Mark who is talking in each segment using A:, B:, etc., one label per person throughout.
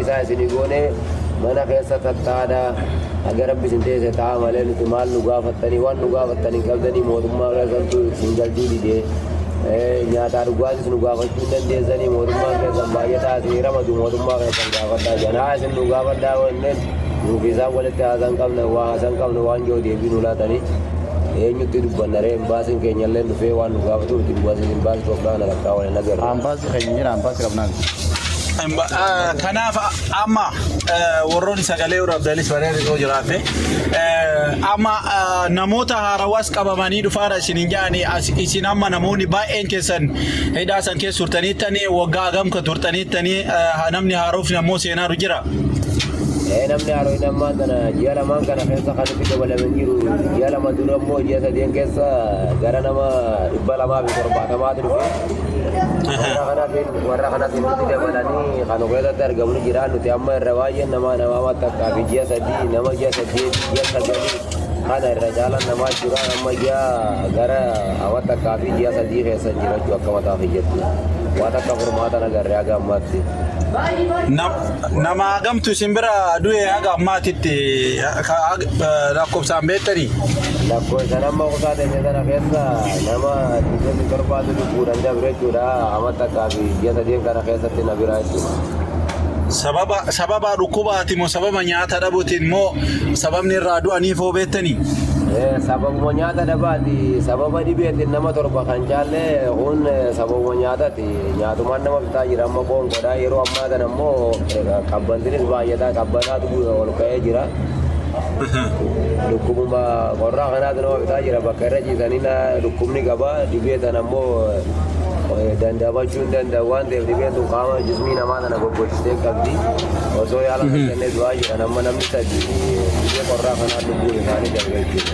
A: isaa isinii goonee mana keessa tattaadha haga rabbi isin teesse ta'a malee nuti maal nu gaafattanii waan nu gaafattan hin qabdanii mootummaa keessantu isin galchuu didee nyaataa dhugaatis nu gaafachuu hin dandeessanii mootummaa keessan baay'ataa isin ramadu mootummaa keessan gaafadhaa jedhan haa isin nu gaafadhaa wanneen nuuf isaan walitti haasan qabna waa haasan qabna waan jiru deebii nu laatanii eenyutti dubbanna ree imbaasiin keenya illee dhufee waan nu gaafatuuf imbaasiin imbaasii Itoophiyaa kana rakkaa waliin agarra. Ambaasii keenya jira ambaasii
B: qabnaa. Kanaaf
C: amma warroonni sagalee waraabdanis bareedu yoo jiraatte amma namoota haarawaas qabamanii dhufaara isin hin jaani isin amma namoonni baay'een keessan hidhaa san keessa turtaniittanii waggaa agamka turtaniittanii namni haarofni ammoo seenaaru jira. Ee
A: namni haarofni ammaa sana ji'a lamaan kana keessa kan itti dabalamee jiru ji'a lama dura immoo ji'a sadeen keessa gara nama dhibba lamaa fi torbaatamaatu dhufe. warra kanas nutti dabalanii kan keessatti argamu jira nuti amma irra baay'een namaa namaa takkaa fi ji'a sadii nama ji'a sadii ji'a sagalii kana irra caalaan namaa jira amma ji'a gara awa takkaa fi ji'a sadii keessa jirachuu akka mataa fi jettu waan akka furmaata nagarree haga ammaatti. Nam- Nama
C: hagamtu isin bira du'e haga ammaatitti lakkoofsaan beektanii? Lakkoofsaan amma
A: kutaa teenya sana keessa nama 27 lubbuudhaan dabre jechuudha. Amma takkaa fi ji'a sadeen kana keessatti na biraa jechuudha. Sababa
C: sababa dhukkubaati moo sababa nyaata dhabuutiin moo sababni irraa du'aniif hoo beektanii? Sababuma
A: nyaata dhabaati. Sababa dhibeetiin nama torba kan caalle kun sababuma nyaataati. Nyaatumaan nama fixaa jira amma qoonqoodha. Yeroo ammaa kana immoo qabbantinis baay'ataa qabbanaatu ol ka'ee jira. Dhukkubuma qorraa kanaatu nama fixaa jira bakka irra ciisanii dhukkubni qaba. Dhibee tana immoo dandamachuu hin danda'u waan ta'eef dhibeen tun qaama jismii namaa tana goggogsiisee qabdi. Osoo yaala hin kennee du'aa jiran amma namni sadii dhibee qorraa kanaan lubbuun isaanii darbe jechuudha.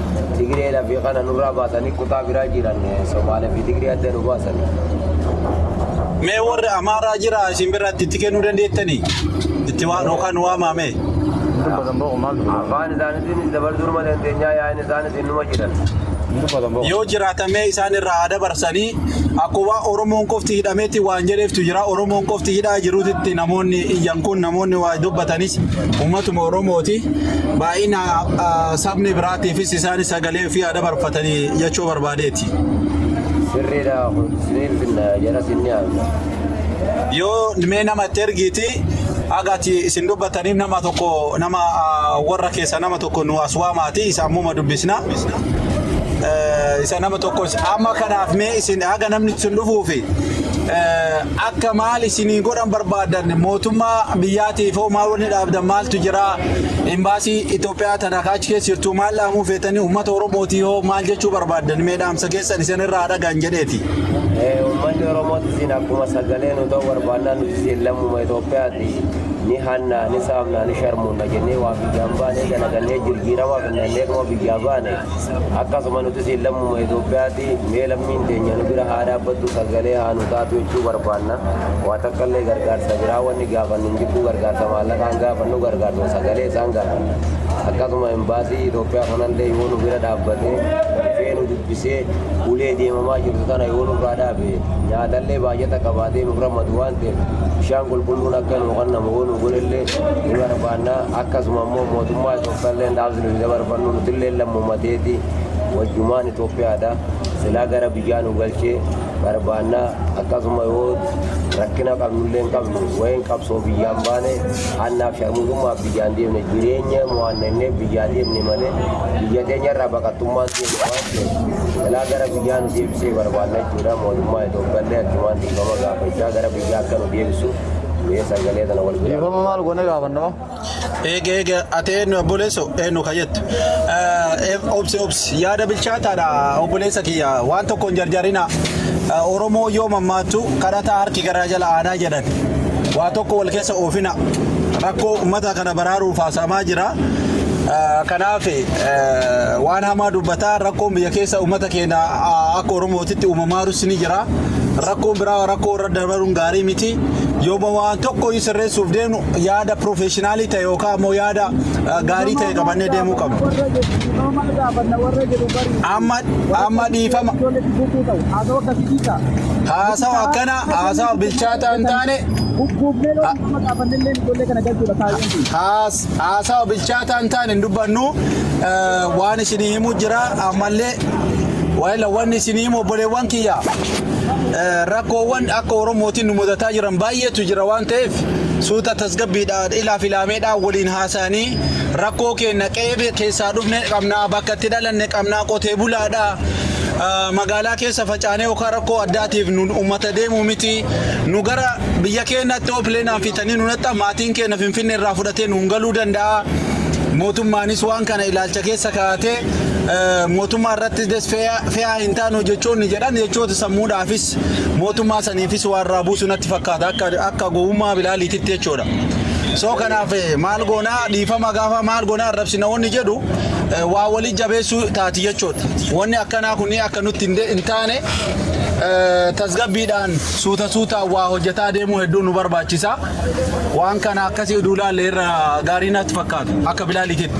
A: Tigree lafi kana nurraa baasanii kutaa biraa jiran Somaalee fi Tigree adda nu baasan.
C: Mee warri Amaaraa jira isin biratti itti kennuu dandeettanii? Itti waan yookaan waamaamee? Afaan
A: isaaniitiinis dabarsuu numa dandeenyaa yaa'in isaanis innuma jiran. Yoo
C: jiraatamee isaan irraa haa dabarsanii akkuma Oromoon qofti hidhameetti waan jedheeftu jira. Oromoon qofti hidhaa jiruutti namoonni iyyan kun namoonni waa dubbatanis uummatuma Oromooti. Baay'ina sabni biraatiifis isaanis sagalee ofii haa dabarfatanii jechuu barbaadeeti. Sirriidha
A: kun isiniin finna jara sinni haamna. Yoo
C: mee nama itti ergiiti haga ati isin dubbataniif nama tokko nama ah, warra keessa nama tokko nu as waamaati isa ammuma dubbisna. Eh, Isa nama tokko amma kanaaf mee isin haga namni isin dhufuufi eh, Akka maal isinii godhan barbaadan mootummaa biyyaatiif hoo maal wanni dhaabdan maaltu jira imbaasii Itoophiyaa tana ka achi keessa jirtu maal dhaamuu feetanii uummata Oromootii hoo maal jechuu barbaadan mee dhaamsa keessan isin irraa dhagaan jedheeti. Eh, Uummanni
A: Oromootti isin akkuma sagalee nu ta'u barbaannaa nuti isin lammuma Itoophiyaati ni hannaa ni saamnaa ni sharmuunna jennee waa biyyaan baanee dalagannee jirjiiramaa finnannee dhuma biyyaa baane Akkasuma nutis lammuma Itoophiyaati mee lammiin teenya nu bira haa dhaabbattu sagalee haa nu taatu jechuu barbaanna. Waa takka illee gargaarsa biraa wanni gaafannu hin jirtu gargaarsa maallaqaa hin gaafannu gargaarsa sagalee isaan gaafanna. Akkasuma imbaasii Itoophiyaa kanallee yoo nu bira dhaabbatee dhufee nu dubbisee ulee deemamaa jirtu tana yoo nurraa dhaabe nyaatallee baay'ata qabaatee nurra madu waan ta'eef bishaan qulqulluun akka nu kennamu yoo nu godhellee ni barbaanna. Akkasuma immoo mootummaa Balleen dhaamsi nuti dabarfannu nutilleen lammuma teeti wajjumaan Itoophiyaadha. Silaa gara biyyaa nu galchee barbaanna. Akkasuma yoo rakkina qabnullee hin qabnu wayiin qabsoo biyyaan baane hannaaf sharmuxummaaf biyyaan deemne jireenya mo'anna innee biyyaa deemne malee biyya teenyarraa baqattummaan deemne waan ta'eef silaa gara biyyaa nu deebisee barbaanna jechuudha. Mootummaa Itoophiyaallee achumaan dhiifama gaafachaa gara biyyaa akka nu deebisu mee sagalee kana wal bira. Dhiifama maal goonee gaafanna?
B: Eega eega
C: ati eenyu obboleesso eenyu ka jettu. Obsi obsi yaada bilchaataadha obboleessa kiyya waan tokko hin jarjarinaa. Oromoo yoo mammaattu kadhataa harki garaa jala aanaa jedhan. Waa tokko wal keessa oofina rakkoo uummata kana baraaruuf haasa'amaa jira. Kanaaf waan hamaa dubbataa rakkoon biyya keessa uummata keenya akka Oromootitti uumamaaru sini jira. Rakkoon biraa rakkoo dabaruun gaarii miti yooma waan tokko hin sirreessuuf deemnu yaada piroofeeshinaalii ta'e yookaan immoo yaada gaarii ta'e qabannee deemuu qabna. Amma amma dhiifama haasawa akkana haasawa bilchaataa hin taane haas haasawa bilchaataa hin taane hin dubbannu waan isinii himu jira ammallee waa'ee wanni isinii himu obboleewwan kiyya. rakkoowwan akka Oromootiin nu mudataa jiran baay'eetu jira waan ta'eef suuta tasgabbiidhaan ilaa filaameedhaan waliin haasa'anii rakkoo keenya qe'ee keessaa dhufne qabnaa bakka itti dhalanne qabnaa qotee bulaadha magaalaa keessa facaanee yookaan rakkoo addaatiif nu uummata deemuu miti nu gara biyya keenyatti yoo pileenaan fitanii nu naxxa maatiin keenya finfinnee irraa fudhatee nuun galuu danda'a mootummaanis waan kana ilaalcha keessa kaa'atee mootummaa irratti desfee fe'aa hin taanu jechoonni jedhan jechoota sammuudhaafis mootummaa saniifis waan irraa buusu natti fakkaata akka akka gowwummaa bilaaliititti jechuudha. Soo kanaaf eh, maal goonaa dhiifama gaafa maal goonaa arrabsina wanni jedhu eh, waa walii jabeessuu taati jechuudha. Wanni akkanaa kun akka nutti hin de- hin taane eh, tasgabbiidhaan suuta suutaan waa hojjetaa deemuu hedduu nu barbaachisa. Waan kana akkasii duulaalle irra gaarii natti fakkaata akka bilaaliititti.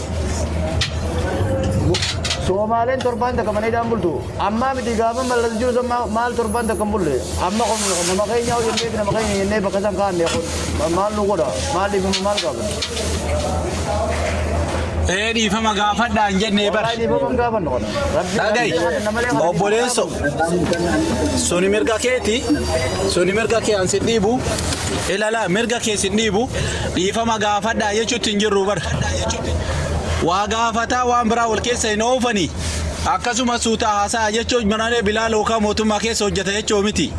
B: Soomaaleen torbaan takka mana hidhaan bultu. Ammaa miti gaafa mallas jiru san maa- maal torbaan takka hin bulle. Amma kun nama keenya hoo jennee fi nama keenya jennee bakka san kaa'anne kun ma- maal nu godha? Maal dhiifama maal qabna?
C: Ee dhiifama gaafadhaa hin jennee bar. Wallahi dhiifama hin gaafannu kana. Rabbi Dhagai nama malee kana obboleesso suni mirga keeti suni mirga kee an sin dhiibu ilala mirga kee sin dhiibu dhiifama gaafadhaa jechuutti hin jirru bar. hojjadhaa jechuuti. Waa gaafataa waan biraa wal keessa hin oofani. Akkasuma suuta haasa'a jechuun malee Bilaal hookaa mootummaa keessa hojjata jechuu miti.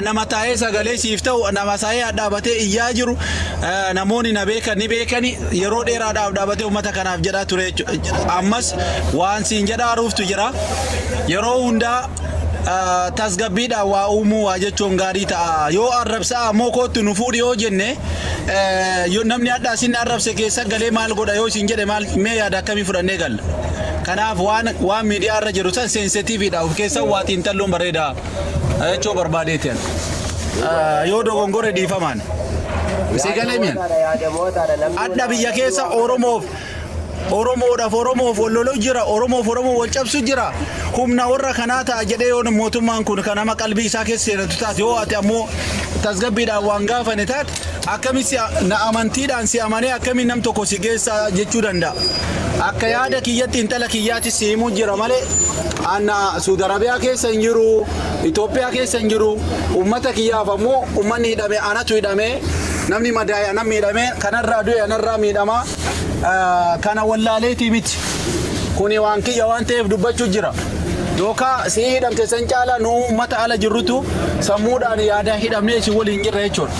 C: Nama taa'ee sagalee siif ta'u, nama saayee dhaabatee iyyaa jiru, namoonni na beekan ni beekani yeroo dheeraadhaaf dhaabatee uummata kanaaf jedhaa ture jechuudha. Ammas waan siin jedhaaruuftu jira. Yeroo hundaa tasgabbiidhaan waa uumuu waa jechuun gaarii ta'a. Yoo arrabsaa ammoo kootti nu fuudhi yoo jenne namni hadhaa isin arrabse keessa galee maal godha yoo isin jedhe maal mee yaada akkamii fudhannee galla. Kanaaf waan waan miidiyaa irra jiru san seensitiiviidha of keessaa waa xiinxalluun bareeda jechuu barbaadeeti. Yoo dogongore dhiifamaan. Si galee mi'a? Adda biyya keessa Oromoof Oromoodhaaf Oromoof wal loluu jira, Oromoof Oromoo wal cabsu jira. Humna warra kanaa ta'a jedhee yoo mootummaan kun kan nama qalbii isaa keessa seenatu taate yoo ati ammoo tasgabbiidhaan waan gaafane taate akkamitti si na amantiidhaan si amanee akkamiin nam tokko si geessa jechuu danda'a. Akka yaada kiyyatti intala kiyyaatti si himuu jira malee anna Suud Arabiyaa keessa hin jiru, Itoophiyaa keessa hin jiru, uummata kiyyaaf ammoo uummanni hidhame anatu hidhame, namni madaa'e anan miidhame, kanarraa du'e anarraa miidhama. ah, kana wallaaleetii miti. Kuni waan kiyya waan ta'eef dubbachuu jira. Yookaan sii hidhamte san caalaa nu uummata ala jirrutu sammuudhaan yaada hidhamnee isin waliin jirra jechuudha.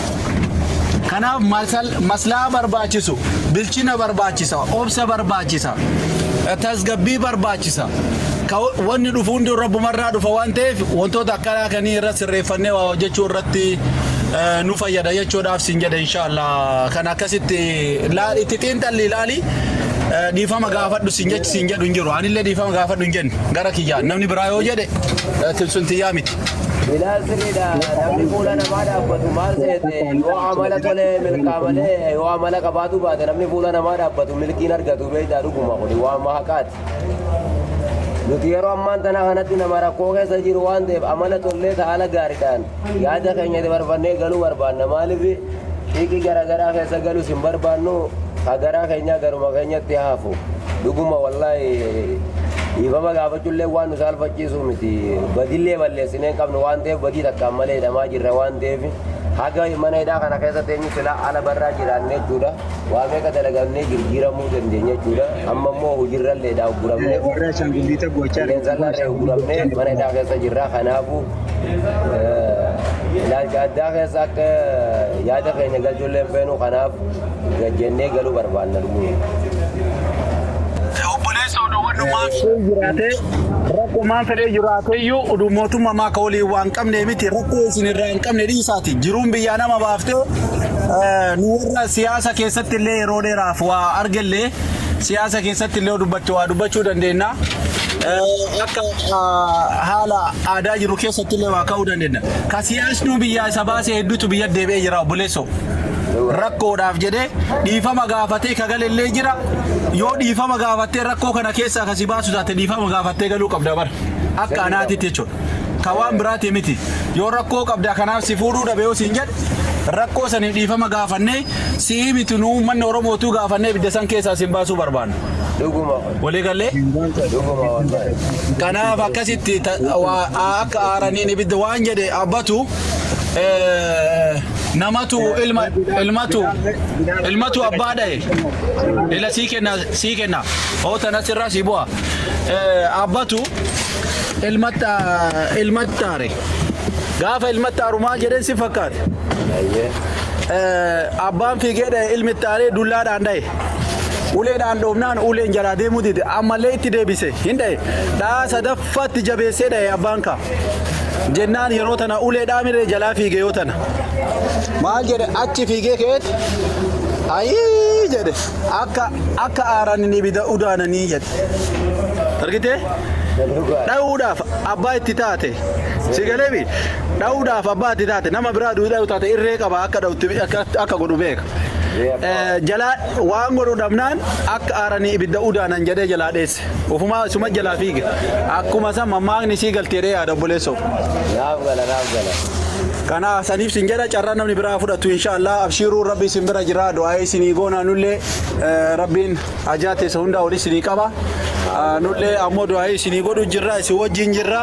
C: Kanaaf masal- maslahaa barbaachisu, bilchina barbaachisa, obsa barbaachisa, tasgabbii barbaachisa. Ka- Wanni dhufu hundi rabbumarraa dhufa waan ta'eef wantoota akkanaa kanii irra sirreeffannee waa hojjechuu irratti eh, nu fayyada jechuudhaaf siin jedha inshaallah. Kan akkasitti Laal itti xiinxalli ilaali dhiifama gaafadhu siin jechi siin jedhu hin jiru anillee dhiifama gaafadhu hin jenne gara kiyyaan namni biraa yoo jedhe sun tiyyaa miti. Ilaal sirriidha
A: namni fuula namaa dhaabbatu maal seete yoo amala tole milkaa malee yoo amala qabaatu baate namni fuula namaa dhaabbatu milkiin argatu beektaa dhuguma kuni waan mahaqaati. Nuti yeroo ammaan tana kanatti nama rakkoo keessa jiru waan ta'eef amala tollee ta'ala gaariidhaan Yaada keenya dabarfannee galuu barbaanna maaliif xiiqii garaagaraa keessa galus hin barbaannu ka garaa keenyaa garuma keenyatti hafu dhuguma wallaahi dhiifama gaafachullee waan nu saalfachiisu miti badillee balleessinee hin qabnu waan ta'eef badii takkaan malee hidhamaa jirra waan ta'eef haga mana hidhaa kana keessa teenyu silaa ala barraa jiraanne jechuudha waa meeqa dalagannee jijjiiramuu dandeenya jechuudha amma immoo hojiirralleedha ugguramne Warra Ashaangulliita gochaa qilleensarraa irraa ugguramne mana hidhaa keessa jirra kanaafuu ilaalcha addaa keessa akka yaada keenya galchuullee hin feenu kanaaf gajjennee galuu barbaanna dhuguu. obboleessa odowwannummaa
C: Fedhee jiraatee rakkumaan fedhee jiraateeyyuu uduu mootummaa maaka waliin waan qabne miti rakkoo isin irraa hin qabne dhiisaati jiruun biyyaa nama baaftee eh, nu warra siyaasa keessatti illee yeroo dheeraaf waa argellee siyaasa keessatti illee dubbachuu waa dubbachuu dandeenya. Eh, Akka ah, haala aadaa jiru keessatti illee waa ka'uu dandeenya. Ka siyaasnuu biyyaa isa baase hedduutu biyya deebi'ee jira obboleessoo. Rakkoodhaaf jedhee dhiifama gaafatee ka gale illee jira. Yoo dhiifama gaafattee rakkoo kana keessaa ka si baasu taate dhiifama gaafattee galuu qabda bara. Akka anaatitti jechuudha. Ka waan biraati miti. Yoo rakkoo qabda kanaaf si fuudhuu dhabe yoo siin jedhe rakkoo saniif dhiifama gaafannee si'ii miti nu uummanni Oromootuu gaafannee ibidda san keessaa sin baasuu barbaanna. Dhuguma. Walii gallee kanaaf akkasitti ta- waa- aa- akka aaraniin ibidda waan jedhe abbatu eh, namatu ilma ilmatu ilmatu abbaa dhahe ila sii kenna sii kenna oo tana sirraa sii bu'a Eh, abbatu ilmatta ilmattaare gaafa ilmattaaru maal jedheen si fakkaate Eh, abbaan fiigee dhahe ilmi ittaaree dullaadhaan dhahe Uleedhaan dhoofnaan uleen jalaa deemuu dide. Ammallee itti deebise. Hin dhaye. Dhahaa sadaffaatti jabeessee dhaye abbaan kaa. Jennaan yeroo tana ulee dhaamiree jalaa fiige yoo tana. Maal jedhe achi fiigee ka'eeti. Ayii jedhe akka akka aaraniin ibida udaananii jedhe. Argitee? Dhahuudhaaf abbaa itti taate. Si galeefi? Dhahuudhaaf abbaa itti taate. Nama biraa duudhaa yoo taate irree qaba akka dhahutti akka akka godhu beeka. jalaa waan godhu dhabnaan akka aaranii ibidda udaanan jedhee jalaa dheesse. Ufumaa isuma jalaa fiige. Akkuma san mammaakni sii galtee dhee yaada obboleessoo. Naaf gala
A: naaf gala. Kana
C: saniif sin jedha carraa namni biraa fudhatu inshaallah abshiiruu rabbi isin bira jira du'aa isinii goonaa nullee eh, rabbiin hajaa teessa hundaa olii isinii qaba. Ah, Nullee ammoo du'aa isinii godhu jirra isin wajjin jirra.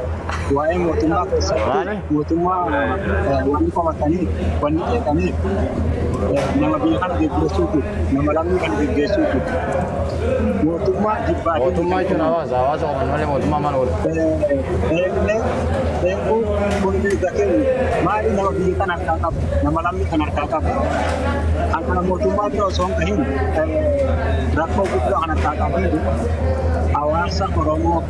D: waa'ee mootummaa keessatti Maali? mootummaa eh, wanni qomatanii wanni qeeqaniif eh, nama biyya kana geggeessuutu nama lammii kana geggeessuutu mootummaa jibbaa fi Mootummaa jechuun hawaasa.
B: Hawaasa qofa malee mootummaa maal godha? eeguu kun mirga keenya maali nama biyya kana harkaa qabu nama lammii kana harkaa qabu kan kana mootummaa bira osoo hin gahin eh, rakkoo guddaa kan harkaa qabu hawaasa Oromoo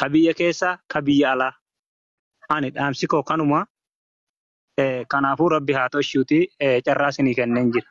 D: ka biyya keessa ka biyya alaa. Ani dhaamsi koo kanuma. Kanaafuu Rabbi haa toshuutii carraa isinii kenneen jira.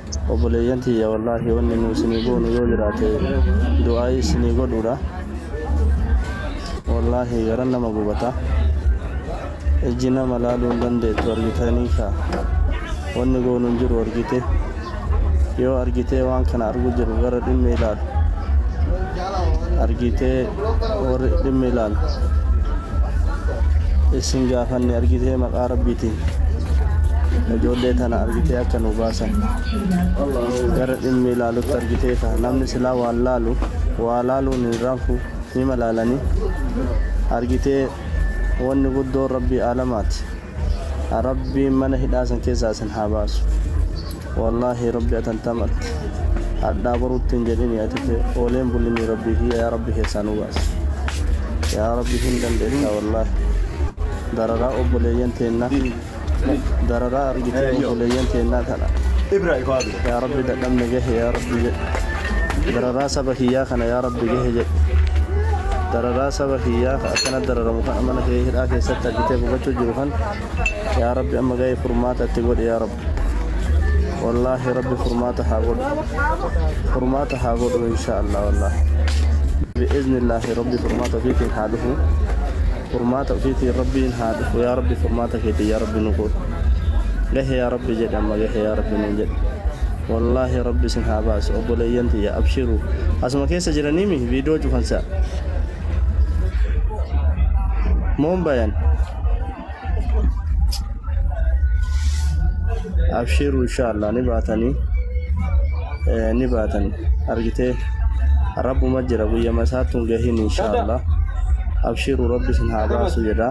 E: Obboleeyyan tiyya wallaahi wanni nu isinii goonu yoo jiraate du'aa'ii isinii godhuudha. Wallaahi garan nama gubata. Ijji nama laaluu hin dandeettu argitanii kaa. Wanni goonu hin jiru argitee. Yoo argitee waan kana argu jiru gara dhimmi ilaalu. argiitee warri dhimmi ilaalu isin gaafanne argitee maqaa rabbiitiin ijoollee tana argitee akka nu baasan gara dhimmi ilaalutti argitee ka namni silaa waa laalu waa laaluun hin raanfu ni malaalanii argitee wanni guddoon rabbii aalamaati. Rabbiin mana hidhaa san keessaa isin haa baasu wallaahi rabbi atantamatti hadhaa boruutti hin jedhini ati ooleen bullinii rabbii kiyya yaa rabbi keessaa nu baasi yaa rabbi hin dandeettaa wallaahi dararaa obboleeyyan teennaa dararaa argitee obboleeyyan teennaa tana Yaa Rabbi dadhabne gahe yaa Rabbi jedhi. Dararaa saba kiyyaa kana yaa Rabbi gahe jedhi. Dararaa saba kiyyaa ka akkana dararamu kana mana kee hidhaa keessatti argitee gubachuu jiru kan yaa Rabbi amma gahee furmaata itti godhi yaa Rabbi. Wallaahi Rabbi furmaata haa godhu. Furmaata haa godhu inshaa Allah wallaahi. Bi'iznillaahi Rabbi furmaata ofiitiin haa dhufu. Furmaata ofiitiin rabbiin haa dhufu yaa rabbi furmaata keetiin yaa rabbi nu guudhu gahe yaa rabbi jedhe amma gahe yaa rabbi nuun jedhe wallaahi rabbi isin haa baasu obboleeyyan tiyya abshiru asuma keessa jiraniimi viidiyoo cufansa moon bayan abshiru insha allah ni baatanii ni baatan argitee rabbuma jira guyyama isaatti hin gahin inshaallah abshiru rabbi sin haa baasu jedha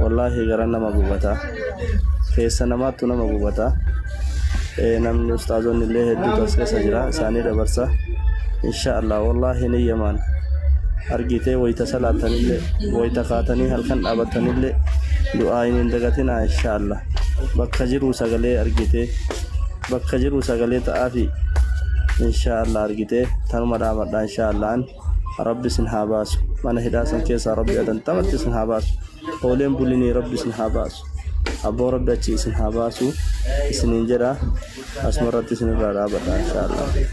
E: wallaahi gara nama gubata keessa namaattu nama gubata namni ustaazonni illee hedduu tas keessa jira isaanii dabarsa inshaallah wallaahi ni yamaan argitee wayita salaatanillee wayita kaatanii halkan dhaabatanillee du'aa hin dagatinaa inshaallah bakka jiruu sagalee argitee Bakka jiru sagalee ta'aafi inshaa Allah argitee tanuma dhaamadha inshaa Allah an rabbi isin haa baasu mana hidhaa san keessaa rabbi adantamatti isin haa baasu ooleen bulinii rabbi isin haa baasu abboo rabbi achi isin haa baasu isiniin jedha asuma irratti isin irraa dhaabadha inshaa Allah.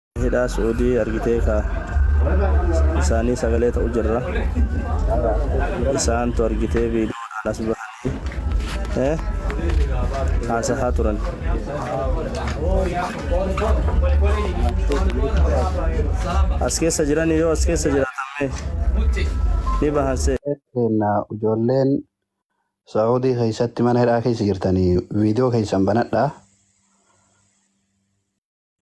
E: Hidhaa su'udii argitee kaa isaanii sagalee ta'u jirra isaantu argitee viidiyoodhaan as bahanii eh, haasahaa turan. As keessa jiranii yoo as keessa jiraatan mee ni bahan see. Keenna
F: ijoolleen Saa'udii keessatti mana hidhaa keessa jirtanii viidiyoo keessan banadhaa.